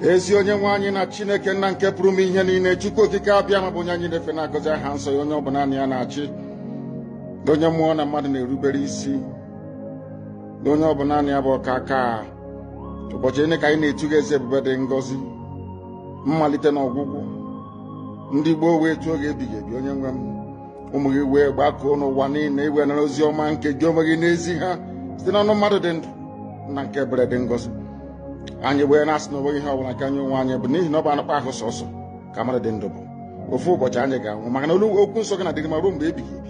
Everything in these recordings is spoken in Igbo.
ezi onye nwe anyị na chineke nna nke pụrụ ime ihe niile chukwu okike abịama bụ onye anyị na-efe na-agọzi aha nsọ ya onye ọ bụ naanị ya na-achị onye mmụọ na mmadụ na-erubere isi onye ọ bụ naanị ya bụ ọkaaka ụbọchị niile ka anyị na-etu gị eze ebube dị ngọzi mmalite na ọgwụgwụ ndị gboo wee tuo gị ebighị ebi onye nwe m ụmụ gị wee gbakọọ n'ụwa niile iwe nara ozi ọma nke gị onwe gị na-ezi ha site n'ọnụ mmadụ dị ndụ nna nke ebere dị ngọzi anyị wee na-asị na onweghị ihe ọbụla nke anyị onwe anyị bụ n'ihi na ọ bụ anụkpa ahụ sọsọ ka mmadụ dị ndụ bụ ofu ụbọchị anyị ga-anwụ maka na olu okwu nsọ gị na-adịrị ma ruo mgbe ebighị ebi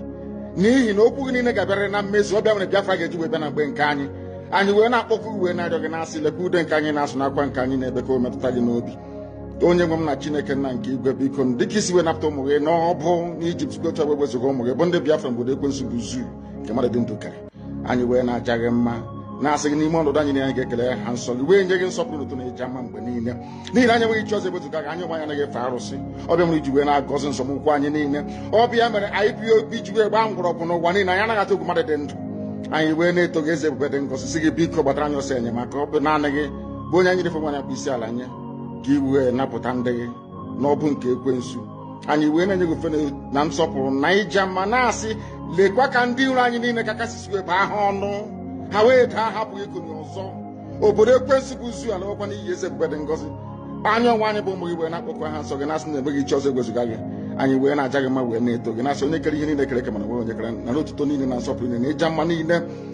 n'ihi na okwu gị niile ga-abịarịrị na mmezu ọ bụ ya mere Biafra ga-eji wee bịa na mgbe nke anyị anyị wee na-akpọku wee na-arịọ gị na-asị lekwa ude nke anyị na-asụ na akwa nke anyị na-ebe ka o metụta gị n'obi onye nwe m na chineke nna nke igwe biko dịka i si wee napụta ụmụ gị n'ọbụ n'ijipt site otu wee wezuga ụmụ gị bụ ndị biafra n'obodo ekwensu bụ zoo nke mmadụ dị ndụ kere anyị wee na-aja gị mma na-asị gị n'ime ọnọdụ anyị na anyị ga-ekele aha nsọ gị wee nye gị nsọpụrụ na otuto na ịja mma mgbe niile n'ihi na anyị enweghị chi ọzọ ebezuga gị anyị onwe anyị anaghị efe arụsị ọ bụ ya mere i ji wee na-agọzi nzọmụkwụ anyị niile ọ bụ ya mere IPOB ji wee gbaa mgbọrọgwụ n'ụwa niile anyị anaghị atụ egwu mmadụ dị ndụ anyị wee na-eto gị eze ebube dị ngọzi sị gị biko gbatara anyị ọsọ enyemaka ọ bụ naanị gị bụ onye anyị na-efe ma na-akpọ isi ala nye ka i wee napụta ndị gị n'ọbụ nke ekwensu anyị wee na-enye gị ofufe na nsọpụrụ na ịja mma na-asị lekwa ka ndị iro anyị niile ka ka i si wee bụọ ha ọnụ ha wee daa ha apụghị ikunie ọzọ obodo ekwensu bụ zoo alawokwa n'iyi eze ebube dị ngọzi anyị onwe anyị bụ ụmụ gị wee na-akpọku aha nsọ gị na-asị na enweghị chi ọzọ egwezuga gị anyị wee na-aja gị mma wee na-eto gị na-asị onye kere ihe niile e kere eke mana enweghị onye kere nara otuto niile na nsọpụrụ niile na ịja mma niile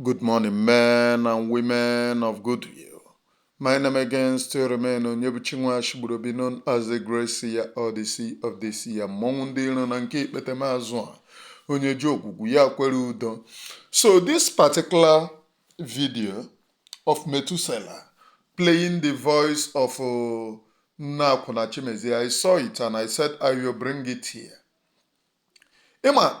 Good morning, men and women of goodwill. My name again still remain Onyebuchi Nwachigburobi known as the Great Seer Odyssey of this year mmọnwụ ndị iro na nke ikpete m azụ a onye ji ogwugwu ya kwere udo. So this particular video of Methuselah playing the voice of uh, Nna Akwụna Chimezie, I saw it and I said I will bring it here. Ịma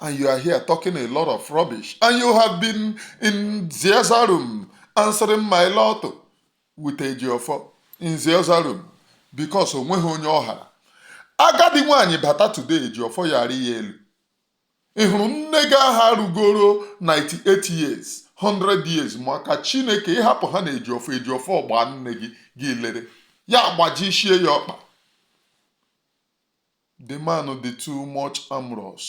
and you are here talking a lot of rubbish and you have been in the other room answering my lord with Ejiofor in the other room because onweghị onye ọ hara agadi nwaanyị bata today Ejiofor yara ya elu ị hụrụ nne gị aha rugoro 98 years 100 years maka chineke ị hapụ ha na Ejiofor Ejiofor gbaa nne gị gị lere ya gbajishie ya ọkpa The man dị too much amorous.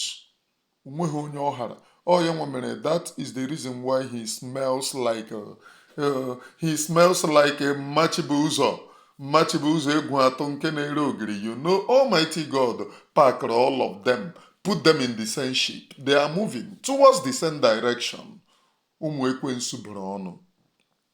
Onweghị onye ọ hara. Ọ ya nwa mere that is the reason why he smells like uh, uh, he smells like a Ma Chibụzọ Ma Chibụzọ Egwuatụ nke na-ere ogiri you know almighty god packed all of them put them in the same ship they are moving towards the same direction ụmụ ekwensu bụrụ ọnụ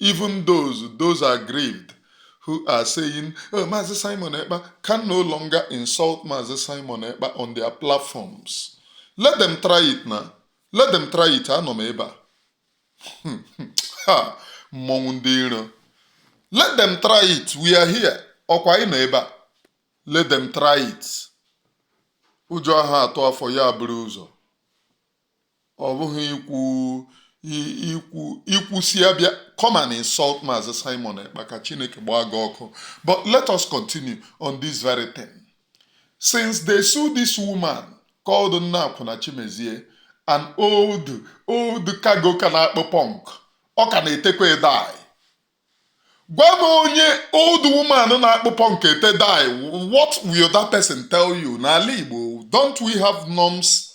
Even those those aggrieved who are saying, oh, Mazi Simon Ekpa can no longer insult Mazi Simon Ekpa on their platforms. Let them try it now. Let them try it. Anọ m ebe a. ha mmọnwụ ndị iro. Let them try it. We are here. Ọkwa anyị nọ ebe a. Let them try it. Ụjọ aha atụ afọ ya buru ụzọ. ọ bụghị ikwu ikwu ikwusia bịa come and insult Maazị Simon Ekpa ka Chineke gbaa gị ọkụ but let us continue on this very thing since they sue this woman called Nne Akwụna Chimezie an old old cargo ka na-akpụ punk ọ ka na-etekwa dye gwa m onye old woman na-akpụ punk ete dye what will that person tell you n'ala Igbo don't we have norms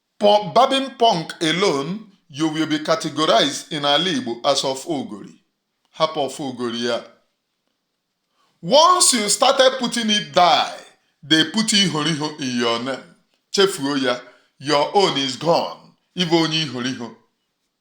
Punk, Barbing punk alone, you will be categorized in ala Igbo as of Ogori. Hapụ of Ogori ya. Once you started putting it die, they put ihoriho in your name. Chefuo ya, your own is gone. Ibe onye ihoriho.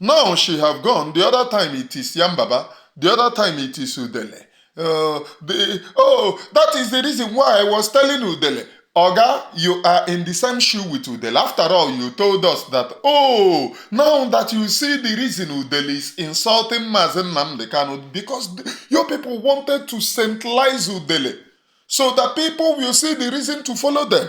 now she have gone the other time it is yambaba the other time it is udele uh, the, oh that is the reason why i was telling udele oga you are in the same shoe with udele after all you told us that oh now that you see the reason udele is insulting mazi nnamdi kanu because the, your people wanted to centralize udele so that people will see the reason to follow them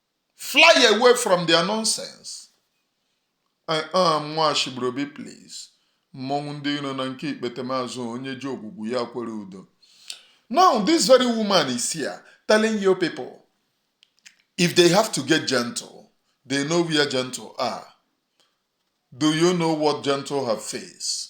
fly away from their nonsense I am Nwashịgburuobi please mmọnwụ ndị iro na nke ikpetemazụ onye ji ogwugwu ya kwere udo now this very woman is here telling you people if they have to get gentle they know where gentle are do you know what gentle have faced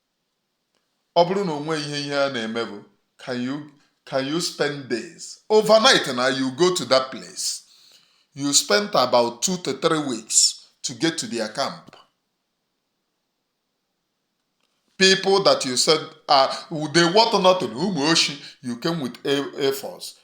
ọ bụrụ na onwe ihe ihe a na-eme bụ can you can you spend days overnight na you go to that place you spend about two to three weeks to get to their camp people that you said are they want nothing ụmụ oshi you came with a, a force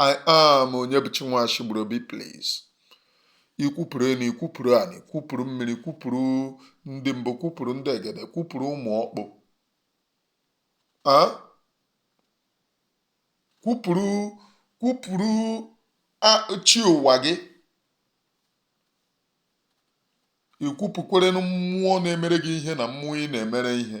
I am Onyebụchi Nwashịgburuobi please. Ikwupụrụ enu, ikwupụrụ anị, kwupụrụ mmiri, kwupụrụ ndị mbụ, kwupụrụ ndị egede, kwupụrụ ụmụ ọkpụ. Ah? Kwupụrụ kwupụrụ a- chi ụwa gị. Ikwupụkwerenu mmụọ na-emere gị ihe na mmụọ ị na-emere ihe.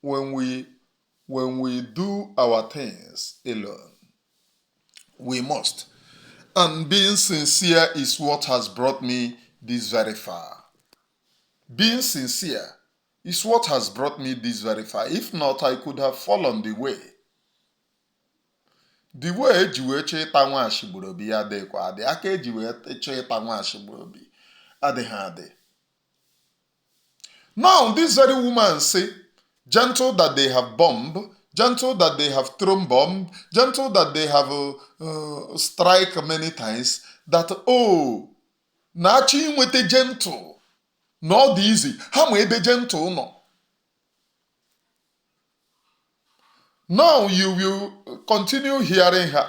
when we when we do our things alone. We must. And being sincere is what has brought me this very far. Being sincere is what has brought me this very far. If not, I could have fallen the way. The way eji wee chọọ ịta Nwashịgburuobi ya adịghịkwa adị aka eji wee chọọ ịta Nwashịgburuobi adịghị adị Now this very woman say, gentle that they have bombed, gentle that they have thrown bomb, gentle that they have uh, uh, strike many times, that oh, na achọ inweta gentle na ọ dị izi ha ma ebe gentle nọ. Now you will continue hearing her.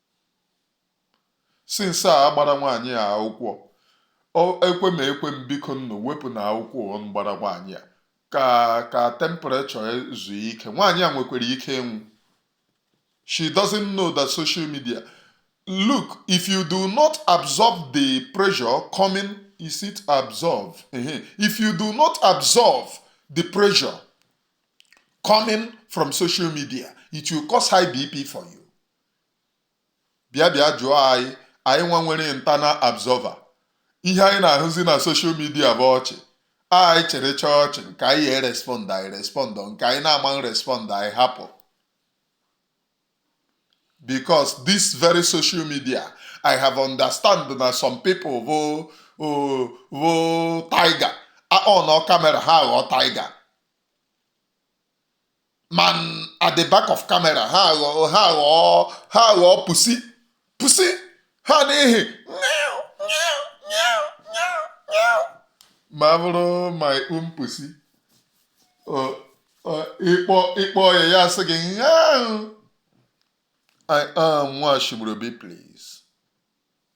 since a gbara nwaanyị a akwụkwọ ekwe m ekwe m bikonụ wepụnụ akwụkwọ ụwa m gbara nwaanyị a ka ka temperature zuo ike nwaanyị a nwekwara ike ịnwụ she doesn't know that social media look if you do not absorb the pressure coming is it absorb if you do not absorb the pressure coming from social media it will cause high bp for you bịa bịa jụọ anyị anyị nwa nwere internal absorber ihe anyị na-ahụzi na social media bụ ọchị anyị chịrị chịa ọchị nke anyị ya e-respond anyị respond nke anyị na-ama respond anyị hapụ because this very social media i have understand na some people bụ bụ tiger on camera ha aghọọ tiger mana at the back of camera ha aghọọ ha aghọọ ha aghọọ pussy pussy ha n'ihi ma bụrụ my own pussy ị kpọ ị kpọọ ya ya sị gị I am Nwashibrobi please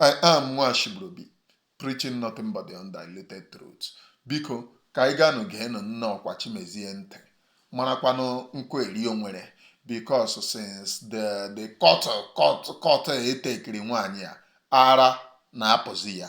I am Nwashibrobi preaching nothing but the undiluted truth. Biko ka anyị gaanụ geenụ nne ọkwa Chimezie ntị marakwanụ nkụ eri o nwere because since the the court court court etekiri nwaanyị a ara na-apụzi ya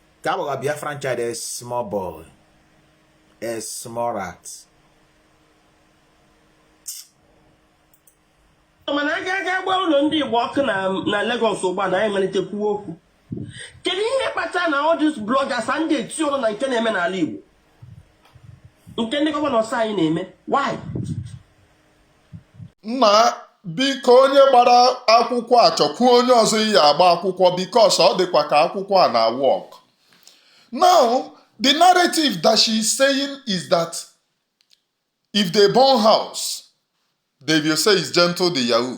ka a gbagha Biafran child a small boy a small rat mana a ga-aga gbaa ụlọ ndị Igbo ọkụ na Lagos ugbu a na anyị malite kwuo okwu kedu ihe kpata na all these bloggers adịghị eti ọrụ na nke na-eme n'ala Igbo nke ndị governors anyị na-eme why nna biko onye gbara akwụkwọ a chọkwuo onye ọzọ ị ya-agba akwụkwọ because ọ dịkwa ka akwụkwọ a na-work now the narrative that she is saying is that if they burn house they will say is Gentle De Yahoo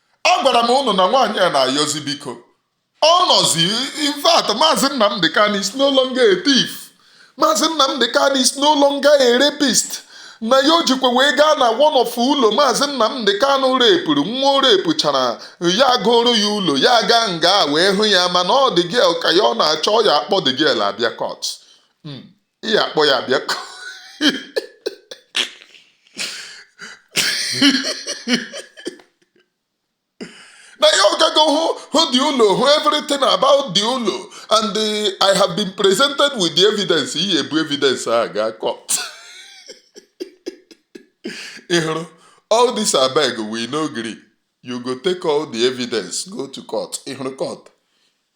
agwara m ụnụ na nwaanyị a na-ayọzi biko ọ nọzi in fact maazị Nnamdi Kanu is no longer a thief maazị Nnamdi Kanu is no longer a rapist na ya o jikwa wee gaa na one of ụlọ maazị Nnamdi Kanu rape-ụrụ nwa o rape-ụchara ya gooro ya ụlọ ya gaa nga wee hụ ya mana ọ the girl ka ya ọ na-achọ ya akpọ the girl abịa court hmm. ị ya akpọ ya bịa na ya ọ gago hụ hụ the ụlọ hụ everything about the ụlọ and the, i have been presented with the evidence iyi ebu evidence a ga court ị hụrụ all this abeg we no gree you go take all the evidence go to court ị hụrụ court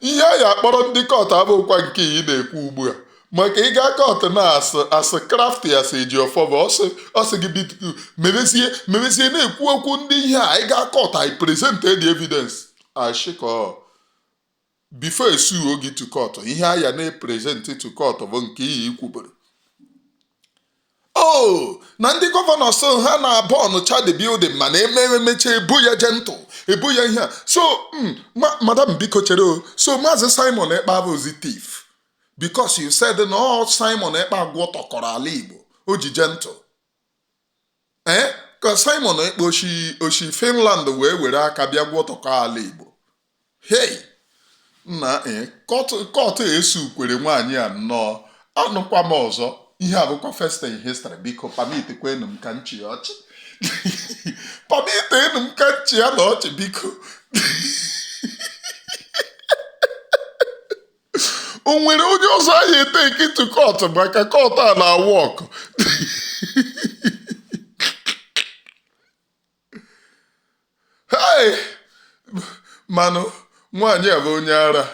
ihe a ya akpọrọ ndị kọtụ abụkwa nke ị na-ekwu ugbu a maka ịga kọtụ na as as crafty as ejiọfọ bụ ọ sị ọ sị gị bitutu mebezie mebezie na-ekwu okwu ndị ihe a ịga kọtụ i present the evidence ashịkọ before e suo gị to kọtụ ihe a ya na-eprezentị to kọtụ bụ nke iyi i kwuburu o na ndị gọvanọs ha na-abọọnụcha the building mana emere emecha e bo ya jentụ e bo ya ihe a so mm, ma madam biko chere o so maazị simon ekpa abụzi thief because you said na ọ simon ekpa gwọtọkọrọ ala igbo o ji jentụ ee ka Simon Ekpa o shi o shi Finland wee were aka bịa gwọtọkọ ala Igbo hei nna ee kọtụ e sukwere nwaanyị a nnọọ anụkwa m ọzọ ihe a bụkwa first in history biko permit kwanụ m ka m chị ọchị permit nụ m ka m chị ya n'ọchị biko o nwere onye ọzọ anyị etekị to kọtụ maka kọtụ a na-awọọkụ Hey! mana nwaanyị a bụ onye ara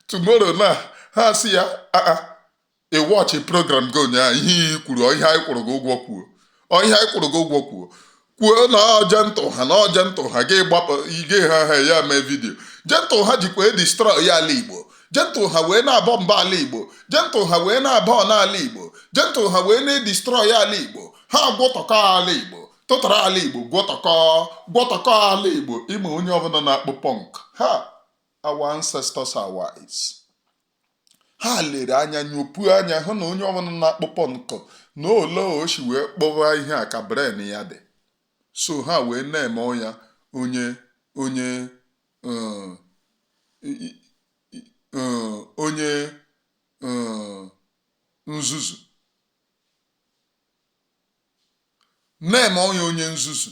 tomorrow na ha si ya aa ị wọchị program gị ụnyaahụ ihe i kwuru ọ ihe anyị kwụrụ gị ụgwọ kwuo ọ ihe anyị kwụrụ gị ụgwọ kwuo kwuo na ọ jentụ ha na ọ jentụ ha gị gbapụ ige ha ha ya mee vidiyo jentụ ha jikwa edistrọị ya ala igbo jentụ ha wee na-abọmbụ ala igbo jentụ ha wee na-abọọnụ ala igbo jentụ ha wee na-edistrọị ala igbo ha gwọtọkọ ala igbo tụtara ala igbo gwọtọkọ gwọtọkọ ala igbo ị ma onye ọbụla na-akpụ pọnk ha our ancestors are wise ha lere anya nyopuo anya hụ na onye ọbụla na-akpụ pọnk na ole o si wee kpụwa ihe a ka brain ya dị so ha wee na-eme ya onye onye um, um, onye um, nzuzu na-eme onye onye nzuzu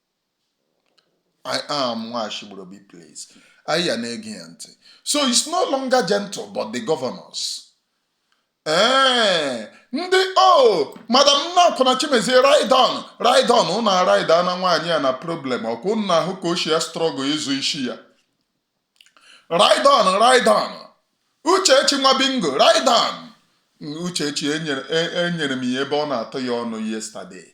I am Nwashigburobi please. Anyị ya na-ege ya ntị. So it's no longer gentle but the governors. Ee, ndị o madam Nnakwụna Chimezie ride on ride on unu aride na nwaanyị a na problem ọkwa unu na-ahụ ka o si a struggle ịzọ isi ya. Ride on ride on Uchechi nwa bingo ride on Uchechi enyere e- enyere m ya ebe ọ na-atụ ya ọnụ yesterday.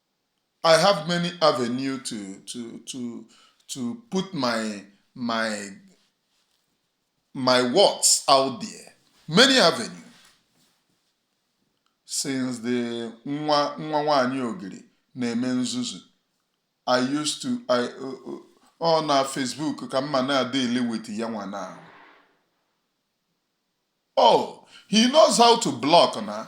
I have many avenue to to to to put my my my words out there. Many avenue. Since the nwa nwa nwanyị ogiri na-eme nzuzu. I used to I uh, uh, ọ na Facebook ka m ma na-adeal with ya nwa na. Oh, he knows how to block na.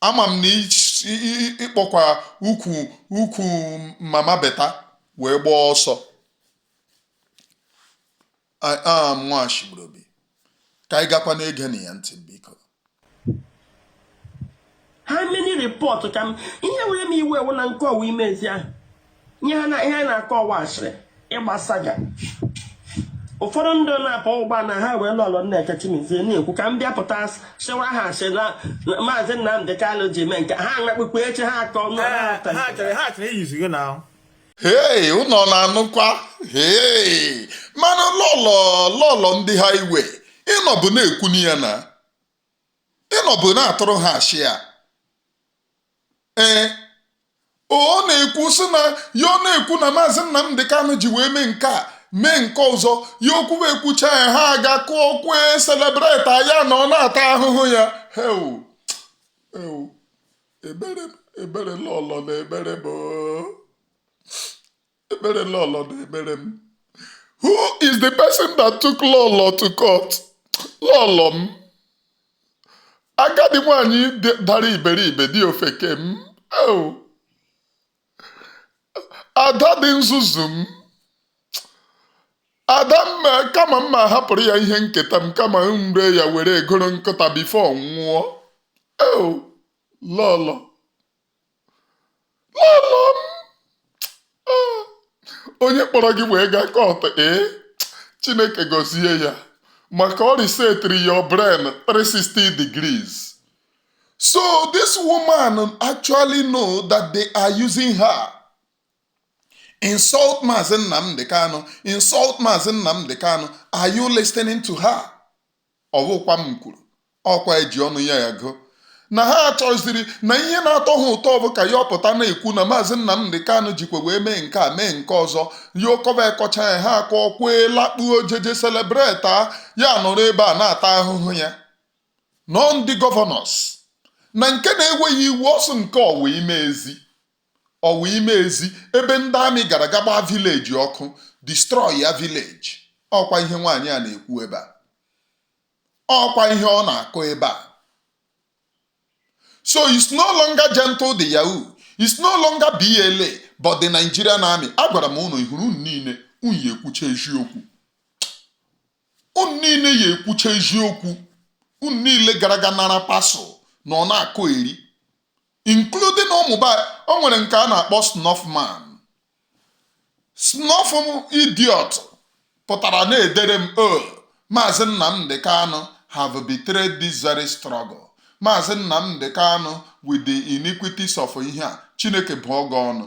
ama m na ịkpọkwa ukwu ukwu mama beta wee gbaa ọsọ I am nwachigburobi ka anyị gakwa na-egenụ ya ntị biko how many report ka m ihe were m iwe ewu na nke ọwa ime ezi ahụ ihe anyị na-akọ ọwa asịrị ịgba saga ụfọdụ ndị na-akpọ ụgba na highway lọlọ Nneka Chimezie na-ekwu ka m bịa pụta sịwa ha sị na maazị Nnamdị Kalụ ji mee nke ha anakpukwu echi ha akọ hei unu na-anụkwa hei mana lọlọ lọlọ ndị highway ị nọbu na-ekwunụ ya na ị nọbu na-atụrụ ha asị a ee ọ na-ekwu sị na ya ọ na-ekwu na maazị Nnamdị Kanụ ji wee mee nke a mee nke ọzọ ya okwu wee kwucha ya ha aga kụọ ọkwa celebrate ya na ọ na-ata ahụhụ ya heu eu ebere ebere lọlọ na-ebere mụ Ebere Lọlọ na-ebere m. Who is the person that took Lọlọ to court? Lọlọ m. Agadi nwanyị dị- dara iberibe dị ofeke m. Oh. Ada dị nzuzu m. Ada m ma- kama m ma hapụrụ ya ihe nketa m kama m ree ya were egoro nkụta before ọ nwụọ. Oh. Lọlọ. lọlọ m Ah, onye kpọrọ gị wee gaa court ee chineke gọzie ya maka ọ resetiri your brain 360 degrees so this woman actually know that they are using her insult Mazi Nnamdi Kanu insult Mazi Nnamdi Kanu are you listening to her ọ wụkwa m kwuru ọkwa eji ọnụ ya agụ na ha chọziri na ihe na-atọ ha ụtọ bụ ka ya ọpụta na-ekwu na maazị Nnamdị Kanụ jikwa wee mee nke a mee nke ọzọ ya ọ kọba ekọcha ya ha akọ kwee lakpuo jeje celebrate ya nọrọ ebe a na-ata ahụhụ ya na ọ ndị governors na nke na-enweghị iwu ọsụ nke Ọwa Imezi Ọwa Imezi ebe ndị army gara ga gbaa village ọkụ destroy ya village ọkwa ihe nwaanyị a na-ekwu ebe a ọkwa ihe ọ na-akọ ebe a so it's no longer Gentle de Yahoo it's no longer BLA but the Nigerian army agwara m ụnụ ị hụrụ unu niile unu ya ekwucha eziokwu unu niile ya ekwucha eziokwu unu niile gara ga nara parcel na ọ na-akọ eri including ụmụ ba o nwere nke a na-akpọ snuff man snuff idiot pụtara na-edere m o oh, maazị Nnamdi Kanu have betrayed this very struggle maazị Nnamdi Kanu with the iniquities of ihe a Chineke bụọ gị ọnụ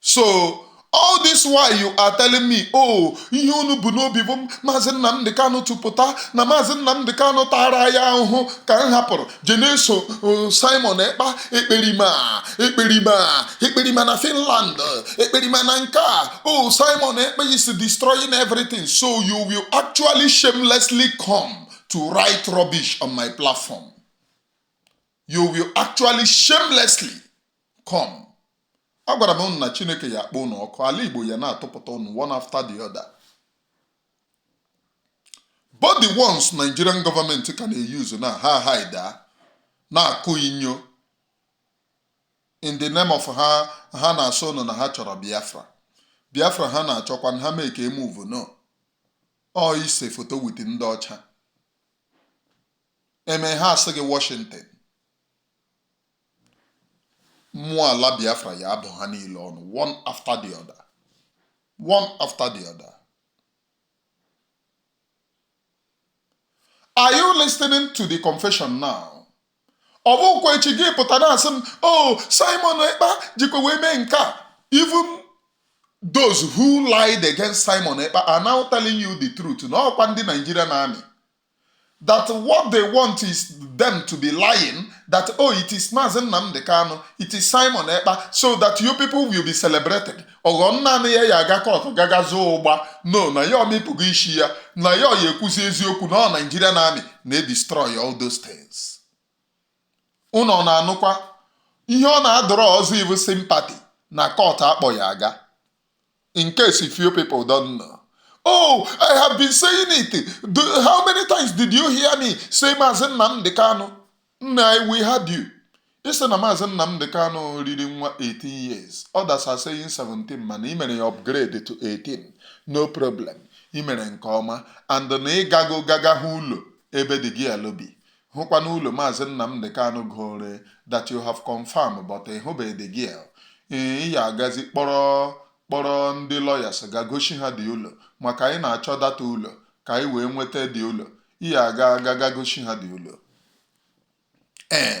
so all this while you are telling me oh ihe unu bu n'obi bụ maazị nnamdị kanụ tụpụta na maazị nnamdị kanụ tara ya ahụhụ ka m hapụrụ je na-eso uh, simon ekpa ekperima ekperima ekperima na finland ekperima na nke a oh simon ekpa is destroying everything so you will actually shamelessly come to write rubbish on my platform you will actually shamelessly come agwara m ụnụ na chineke ya akpọ ụnụ ọkụ ala igbo ya na-atụpụta ụnụ one after the other but the ones nigerian government ka na-e-use na ha hide na-akụ inyo in the name of ha na-asị ụnụ na ha chọrọ biafra biafra ha na-achọkwa ha mee ka e move no ọ ise foto with ndị ọcha eme ha asị gị washington mmụọ ala biafra ya abụ ha niile ọnụ one after the other one after the other are you listening to the confession now ọ bụkwa echi gị pụta na-asị m o oh, simon ekpa jikwa wee mee nke a even those who lied against simon ekpa are now telling you the truth na ọkwa ndị Nigerian army that what they want is them to be lying that oh it is Mazi Nnamdi Kanu it is Simon Ekpa so that you people will be celebrating ọghọ naanị ya ya aga court gaga zoo ụgba no na ya amịpụgo isi ya na ya ya ekwuzi eziokwu na ọ Nigerian army na-edestroy all those things ụnụ na-anụkwa ihe ọ na-adọrọ ọzọ iwu sympathy na court akpọ ya aga in case if you people don't know. Oh, I have been saying it. How many times did you hear me say Maazị Nnamdi Kanu? Nna, we heard you. Ị sị na Maazị Nnamdi Kanu riri nwa 18 years. Others are saying 17 mana ị mere ya upgrade to 18. No problem. Ị mere nke ọma and na ị gago gaga hụ ụlọ ebe the girl bi. hụkwanụ ụlọ Maazị Nnamdi Kanu goro that you have confirmed but ị hụbeghị the girl ee ị ya agazi kpọrọ kpọrọ ndị lawyers ga gosi ha the ụlọ maka anyị na-achọ that ụlọ ka anyị wee nweta the ụlọ ị ya aga aga ga gosi ha the ụlọ ee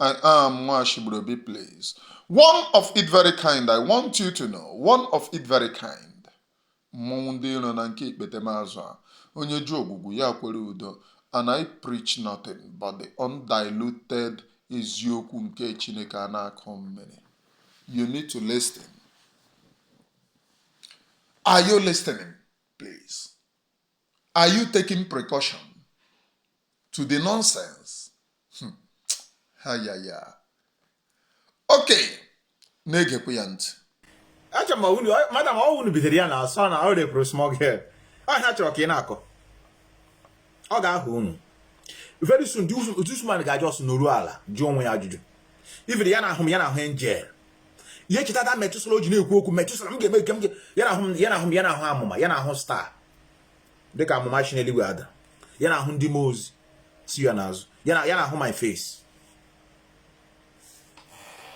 I am Nwashibrobi, please. One of it very kind, I want you to know. One of it very kind. Mmọnwụ ndị iro na nke ikpetemazụ a. Onye jụ Ogwugwu ya kwere Udo. And I preach nothing but the undiluted eziokwu nke Chineke a na-akọ mmiri. You need to listen. Are you listening, please? Are you taking precaution? to the nonsense hmm. ha ya ya okay na-egekwa ya ntị acha ma unu madam ọ unu bidoro ya na asọ na ọ rape-ụrụ small girl ọ ihe a chọrọ ka ị na-akọ ọ ga-ahụ unu very soon this man ga just nọrọ ala jụọ onwe ya ajụjụ ibiri ya na ahụ m ya na ahụ angel ya echeta da Methuselah o ji na-ekwu okwu Methuselah m ga-eme nke m ya na ahụ m ya na ahụ m ya na ahụ amụma ya na ahụ star dịka amụma si n'eluigwe ada ya na ahụ ndị mmụọ ozi si ya n'azụ ya na ahụ my face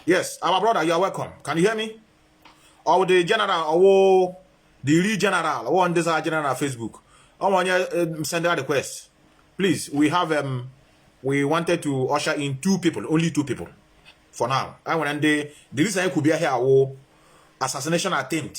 yes our brother you are welcome can you hear me ọ wụ the general ọ wụ the real general ọ wụ ndị zara general na facebook ọnwa onye um, send a request please we have um, we wanted to usher in two people only two people for now anyị nwere ndị the reason anyị kwubia here awụ assassination attempt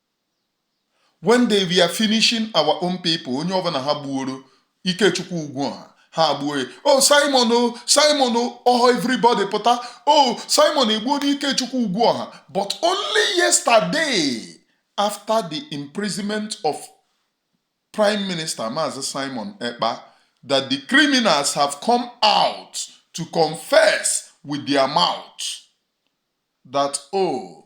when they were finishing our own people onye ọbụla ha gbuoro Ikechukwu Ugwuọha ha gbuo ya o oh, simon o oh, simon o oh, ọhọ everybody pụta o simon egbuona Ikechukwu Ugwuọha but only yesterday after the imprisonment of prime minister maazị simon ekpa that the criminals have come out to confess with their mouth that oh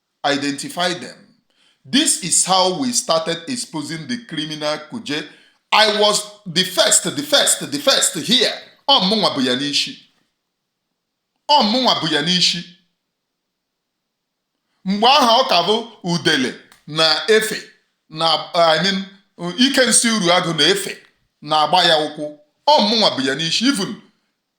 identify them. This is how we started exposing the criminal Kuje. I was the first, the first, the first here. Ọ mụnwa bu ya n'isi. Ọ mụnwa bu ya n'isi. Mgbe aha ọ ka bụ Udele na Efe na I mean Ikensị Uruagụ na Efe na-agba ya ụkwụ. Ọ mụnwa bu ya n'isi. Even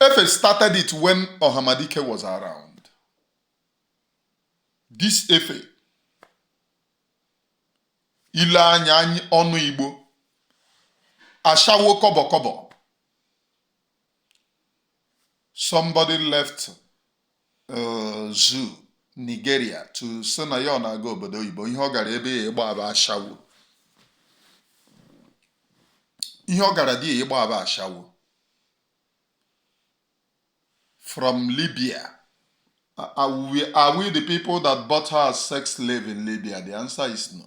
Efe started it when Ohamadike was around. This Efe, ile anya ọnụ Igbo, ashawo kọbọ kọbọ. Somebody left zoo Nigeria to sị na ya ọ na-aga obodo oyibo ihe ọ gara ebe ya ịgba aba ashawo ihe ọ gara di ya ịgba aba ashawo from Libya are we the people that bought her as sex slave in Libya the answer is no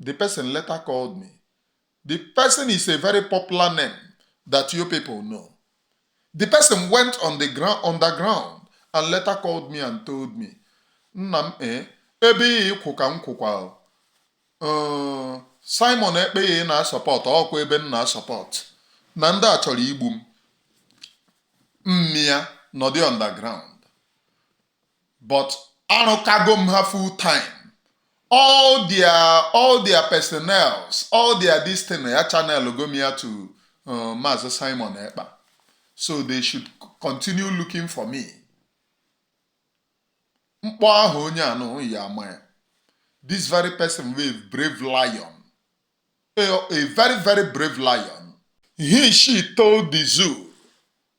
The person later called me. The person is a very popular name that you people know. The person went underground and later called me and told me, Nna m eh, ebe ahụ ị kwụ ka m kwụkwa uh, Simon Ekpa ahụ ị na-asupport ọkwa ebe m na-asupport na ndị a chọrọ igbu m m mịa nọdị underground but arụkago m ha full time all their all their personnels all their this thing ya channel go me to uh, Maazị Simon Ekpa so they should continue looking for me mkpọ ahụ onye anụ ya ama ya this very person wey brave lion a, a very very brave lion he she told the zoo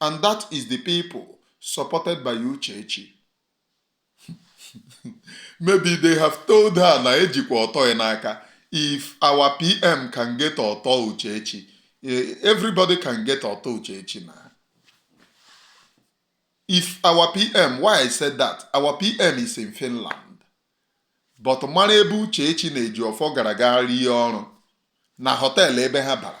and that is the people supported by Uchechi maybe they have told her na ejikwa ọtọ ya n'aka if our PM can get ọtọ Uchechi eh, everybody can get ọtọ Uchechi na if our PM why I said that our PM is in Finland but mara ebe Uchechi na Ejiofọ gara ga rie ọrụ na hotel ebe ha bara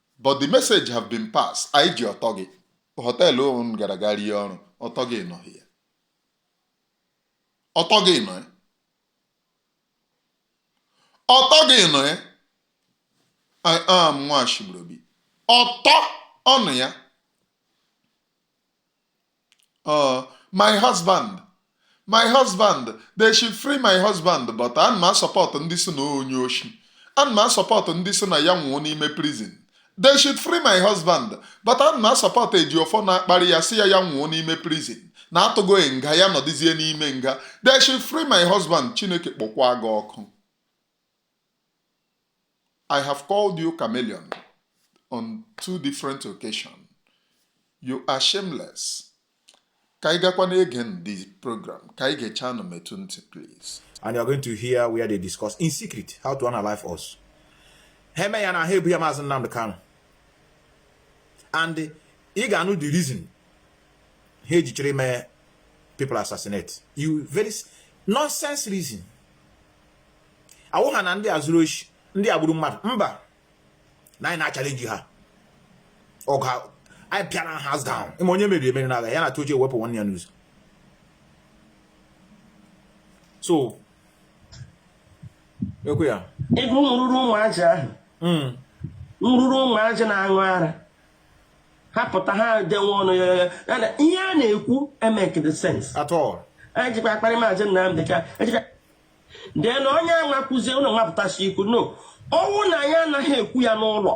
but the message have been passed anyị ji ọtọ gị hotel unu gara ga rie ọrụ ọtọ gị nọ here ọtọ gị nọ ya ọtọ gị nọ ya I am nwa Ashigburobi ọtọ ọnụ ya oh my husband my husband they should free my husband but ana m asupport ndị sị na onye oshi ana m asupport ndị sị na ya nwụọ n'ime prison they should free my husband but ana m asupport Ejiofọ na-akparị ya sị ya ya nwụọ n'ime prison na a tụgo ya nga ya nọdịzie n'ime nga they should free my husband chineke kpọkwa gị ọkụ I have called you chameleon on two different occasions. You are shameless. Ka anyị gakwanụ again the program ka anyị gechaanụ metụ ntị please. And you are going to hear where they discuss in secret how to unalive us. ha eme ya na ha ebu ya Maazị Nnamdi Kanu and ị ga-anụ the reason ha ejichiri mee people assassinate you very nonsense reason ọ wụ ha na ndị a zuru oshi ndị a gburu mmadụ mba na anyị na-achalenji ha ọgụ anyị pịara ha hands down ị ma onye meriri emeri n'agha ya na tochi ewepụ nwanne ya n'ụzọ so ekwe ya ego nrụrụ ụmụ azị ahụ hmm. nrụrụ ụmụ azị na-aṅụ ara ha pụta ha dewe ọnụ ya ihe a na-ekwu amekede sense at all anyị jikwa akparị maazị Nnamdi Ka then onye a kwuzie unu mapụtasị ikwu no ọ wụ na anyị anaghị ekwu ya n'ụlọ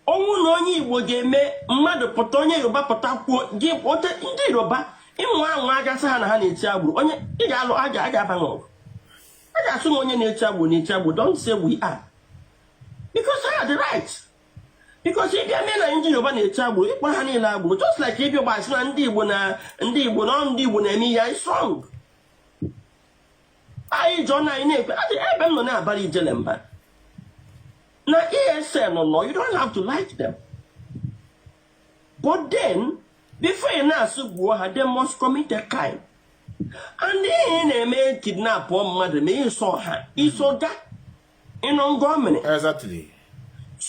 ọ wụ na onye igbo ga-eme mmadụ pụta onye yoruba pụta kwuo gị ote ndị yoruba ịmụ anwụ agasị ha na ha na-eti agboro onye ị ga-alụ a ga-aba n'ọgụ a ga-asị m onye na-eti agboro na-eti agboro don't say we are because ha dị right because ị bịa mee na ndị yoruba na-eti agboro ị kpọ ha niile agboro just like ị bịa gbasị na ndị igbo na ndị igbo na ndị igbo na-eme ihe anyị strong anyị jụọ na anyị na-ekwe ebe m nọ na-abara ijele mba na esn no you don't have to like them but then before ị na-asị gbuo ha they must commit a crime and ihe na-eme kidnapụọ mmadụ ma ịsọ ha iso ga unknown gunmen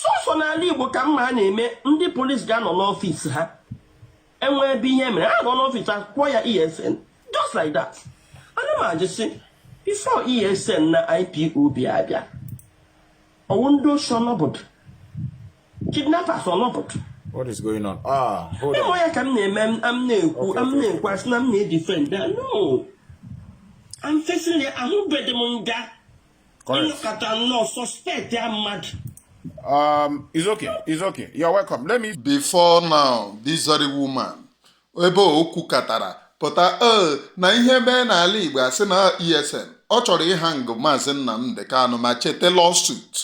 sọsọ n'ala Igbo ka m ma a na-eme ndị polisi ga-anọ n'ọfịs ha e nwe ebe ihe mere a nọ n'ọfịs akpọ ya esn just like that ana m ajụ sị before esn na ipob bịa abịa ọ wụ ndị oshi ọ nọbudu kidnappers ọ nọbudu What is going on? Ah, hold on. ya ka m na-eme m na-ekwu m na-ekwu a sị na m na-edifend no I'm facing the ahụbedị m nga Um, it's okay, it's okay. You're welcome. Let me. Before now, this very woman, ebe okwu katara pụta ee na ihe mee n'ala Igbo a sị na ESN ọ chọrọ ịhang maazị Nnamdi Kanu ma chete lawsuit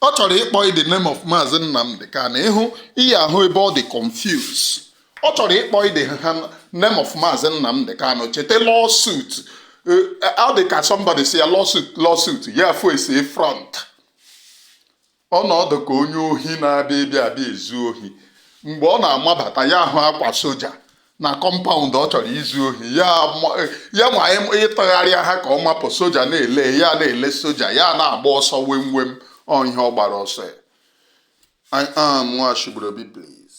ọ chọrọ ịkpọ the name of maazị Nnamdi Kanu ị hụ ihe ahụ ebe ọ dị confused ọ chọrọ ịkpọ the name of maazị Nnamdi Kanu chete lawsuit eh, ọ dị ka somebody si ya lawsuit lawsuit ya fesie front ọ na-adị ka onye ohi na-abịa ịbịa abịa ezu ohi mgbe ọ na-amabata ya ahụ akwa soja na kọmpaụnd ọ chọrọ izu ohi ya ma ịtụgharị ahụ ka ọ mapụ soja na-ele ya na-ele soja ya na-agba ọsọ wem wem ọ ihe ọ gbara ọsọ ya I am Nwachibrobi please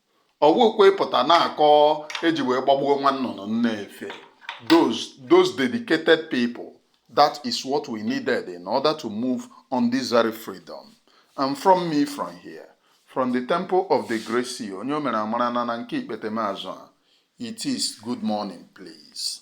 ọ wụkwa ịpụta na-akọ e ji wee gbagbuo nwa nnụnụ na-efe those those dedicated people that is what we needed in order to move on this very freedom and from me from here from the temple of the great sea onye o mere amara na na nke ikpete m azụ a it is good morning please